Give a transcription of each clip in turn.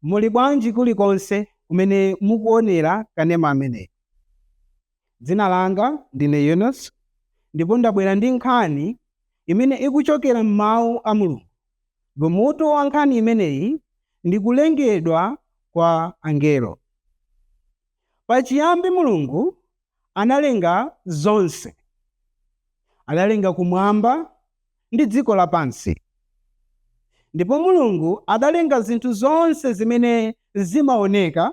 Muli bwanji kulikonse kumene mukuonera kanema ameneyi. Dzina langa ndine Yunus ndipo ndabwera ndi nkhani imene ikuchokera m'mawu a Mulungu ndipo mutu wa nkhani imeneyi ndi kulengedwa kwa angelo. Pachiyambi Mulungu analenga zonse. Adalenga kumwamba ndi dziko lapansi. Ndipo Mulungu adalenga zinthu zonse zimene zimaoneka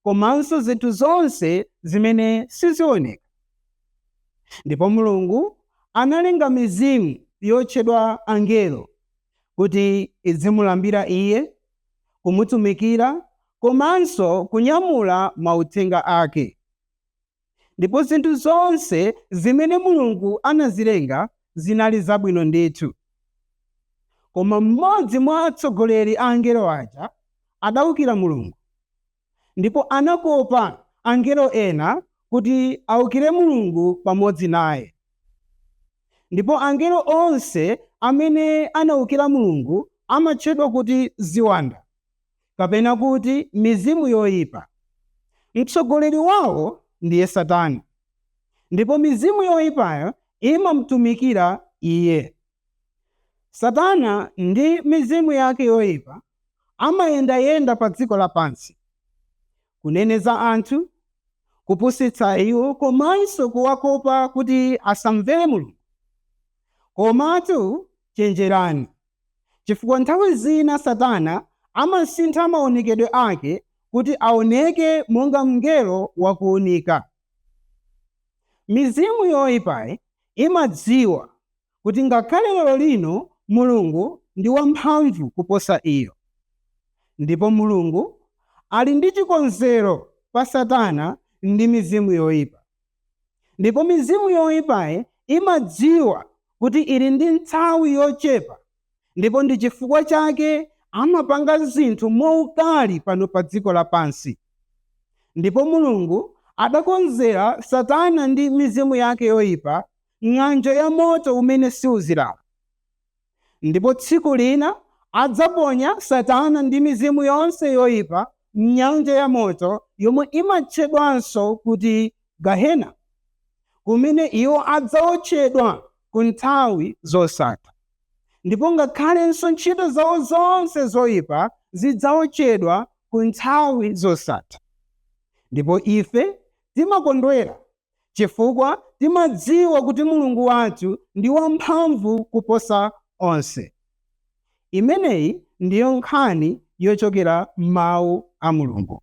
komanso zinthu zonse zimene sizioneka. Ndipo Mulungu analenga mizimu yotchedwa angelo kuti idzimulambira Iye, kumutumikira komanso kunyamula mauthenga ake. Ndipo zinthu zonse zimene Mulungu anazilenga zinali zabwino ndithu. Koma mmodzi mwa atsogoleri a angelo aja adaukira Mulungu, ndipo anakopa angelo ena kuti aukire Mulungu pamodzi naye. Ndipo angelo onse amene anaukira Mulungu amatchedwa kuti ziwanda, kapena kuti mizimu yoipa. Mtsogoleri wawo ndiye Satana ndipo mizimu yoipayo imamutumikira iye. Satana ndi mizimu yake yoipa amayendayenda padziko lapansi, kuneneza anthu, kupusitsa iwo komanso kuwakopa kuti asamvere Mulungu. Komatu chenjerani! chifukwa nthawi zina Satana amasintha maonekedwe ake kuti aoneke monga mngelo wa kuunika. Mizimu yoipayi imadziwa kuti ngakhale lerolino Mulungu ndi wamphamvu kuposa iyo. Ndipo Mulungu ali ndi chikonzero pa Satana ndi mizimu yoipa. Ndipo mizimu yoipayi imadziwa kuti ili ndi nthawi yochepa ndipo ndi chifukwa chake amapanga zinthu mwaukali pano padziko lapansi. Ndipo Mulungu adakonzera Satana ndi mizimu yake yoipa ng'anjo ya moto umene siuzilala. Ndipo tsiku lina adzaponya Satana ndi mizimu yonse yoipa m'nyanja ya moto yomwe imatchedwanso kuti Gahena, kumene iwo adzawotchedwa ku nthawi zosatha. Ndipo ngakhalenso ntchito zawo zonse zoipa zidzawotchedwa ku nthawi zosatha. Ndipo ife timakondwera chifukwa timadziwa kuti Mulungu wathu ndi wamphamvu kuposa onse. Imeneyi ndiyo nkhani yochokera m'Mawu a Mulungu.